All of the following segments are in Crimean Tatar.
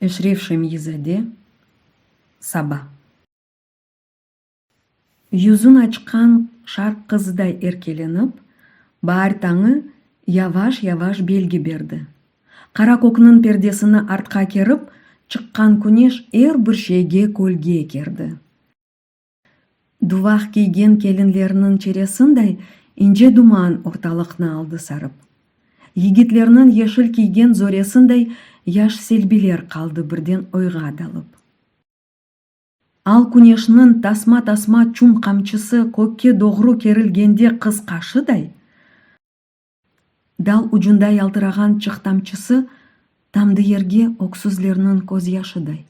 Eşref Şemiyizade, Saba. Yüzün açqan şarq qızıday erkelenip, baar tañı yavaş-yavaş belgi berdi. Qara kökniñ perdesini artqa kerip, çıqqan küneş er bir şeyge kölge kerdi. Duvaq kiygen kelinlerniñ çeresinday ince duman ortalıqnı aldı sarıp. Yigitlerniñ yeşil kiygen zoresinday yaş selbiler qaldı birden oyğa dalıp. Al küneşniñ tasma-tasma çum qamçısı kökke doğru kerilgende qız qaşıday, dal ucunda yaltırağan çıq tamçısı tamdı yerge öksüzlerniñ közyaşıday.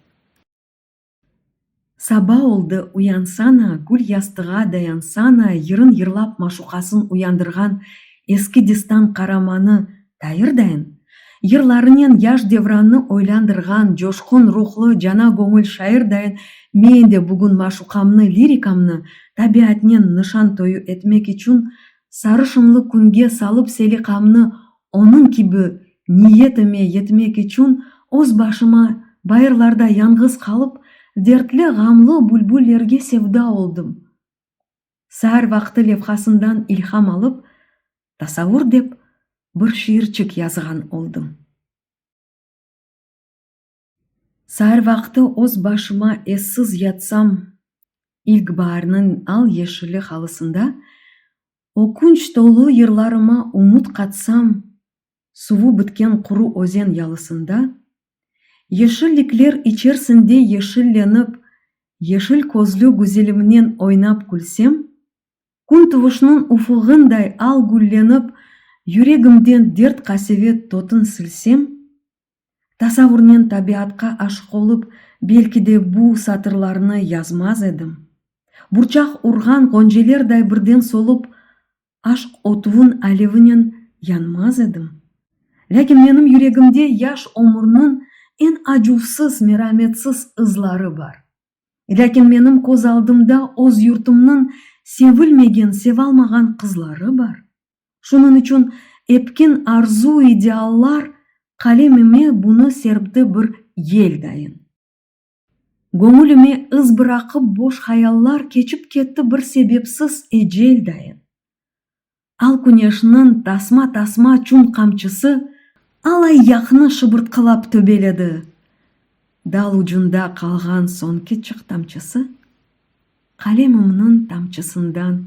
Saba oldı, uyansana, gül yastığa dayansana, yırın yırlap maşuqasın uyandırğan eski destan qaramanı Tayır dayın, yırlarınen yaş Devrannı oylandırğan coşqun ruhlu, cana göñül şair dayın men de bugün maşuqamnı, lirikamnı tabiatnen nışan toyu etmek içün sarışınlı künge salıp seliqamnı Onıñ kibi niyetime yetmek içün öz başıma bayırlarda yañğız qalıp, dertli-ğamlı bülbüllerge sevda oldım. Saar vaqtı levhasından ilham alıp, Tasavur dep bir şiirçik yazğan oldım. Saar vaqtı öz başıma essiz yatsam, ilkbaarnıñ al-yeşili halısında, ökünç tolu yırlarıma ümüt qatsam, suvu bitken quru özen yalısında, yeşillikler içersinde yeşillenip, yeşil közlü güzelimnen oynap külsem, kün tuvuşnıñ ufugınday al güllenip, yüregimden dert-qasevet tötün silsem, Tasavvurnen tabiatqa aşıq olıp, belki de bu satırlarnı yazmaz edim. Burçaq urğan ğoncelerday birden solup, aşq otuvın alevinen yanmaz edim. Lâkin menim yüregimde yaş ömürniñ eñ acuvsız, merametsiz ızları bar. Lâkin menim köz aldımda öz yurtumnıñ sevilmegen, sevalmağan qızları bar. Şunıñ içün etkin arzu-ideallar qalemime bunı serpti bir yel dayın. Göñülime iz bıraqıp boş hayallar keçip ketti bir sebepsiz ecel dayın. Al küneşniñ tasma-tasma çün qamçısı al-ayyaqnı şıbırtqılap töbeledi. Dal ucunda qalğan soñki çıq tamçısı Qalemimniñ tamçısından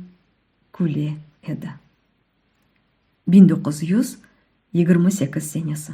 küle edi. Biñ doquz yüz yigirmi sekiz senesi.